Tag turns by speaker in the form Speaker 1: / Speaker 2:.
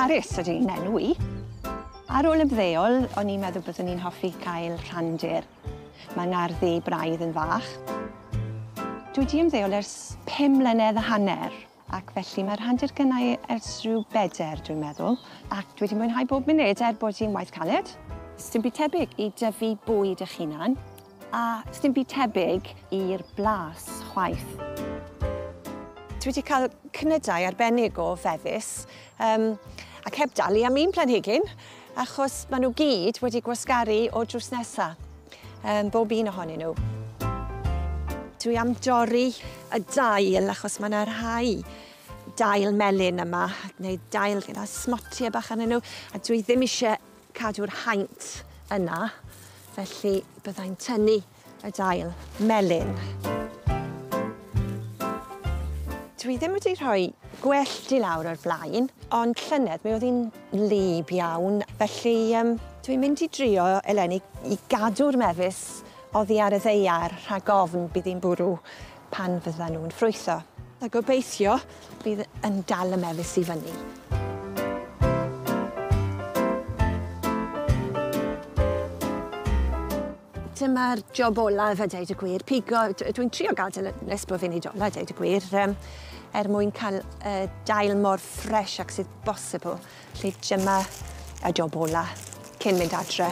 Speaker 1: Carys ydy hi'n enw i. Ar ôl ymddeol, o'n i'n meddwl byddwn i'n hoffi cael rhandir. Mae ngarddi braidd yn fach. Dwi wedi ymddeol ers pum mlynedd a hanner. Ac felly mae'r hantur gynnau ers rhyw bedair, dwi'n meddwl, ac dwi wedi mwynhau bob munud er bod hi'n waith caled. Sdim byd tebyg i dyfu bwyd eich hunan, a sdim byd tebyg i'r blas chwaith. Dwi wedi cael cnydau arbennig o fefus, Yym, ac heb dalu am un planhigyn, achos maen nhw gyd wedi gwasgaru o'r drws nesa. Yym, bob un ohonyn nhw. Dwi am dorri y dail, achos mae yna rhai dail melyn yma, neu dail gyda smotiau bach arnyn nhw, a dwi ddim eisiau cadw'r haint yna, felly byddai'n tynnu Y dail melyn. Dwi ddim wedi rhoi gwellt i lawr o'r blaen, ond llynedd mi oedd hi'n wlyb iawn, felly um, dwi'n mynd i drio eleni i gadw'r mefus oddi ar y ddeiar rhag ofn bydd hi'n bwrw pan fydda nhw'n ffrwytho. A gobeithio bydd yn dal y mefus i fyny. Dyma'r job olaf a dweud y gwir. Pigo, dwi'n trio gael dyn nes bod fi'n ei dola, dweud y gwir, um, er mwyn cael uh, dail mor ffres ac sydd bosibl. Lle dyma y job olaf cyn mynd adre.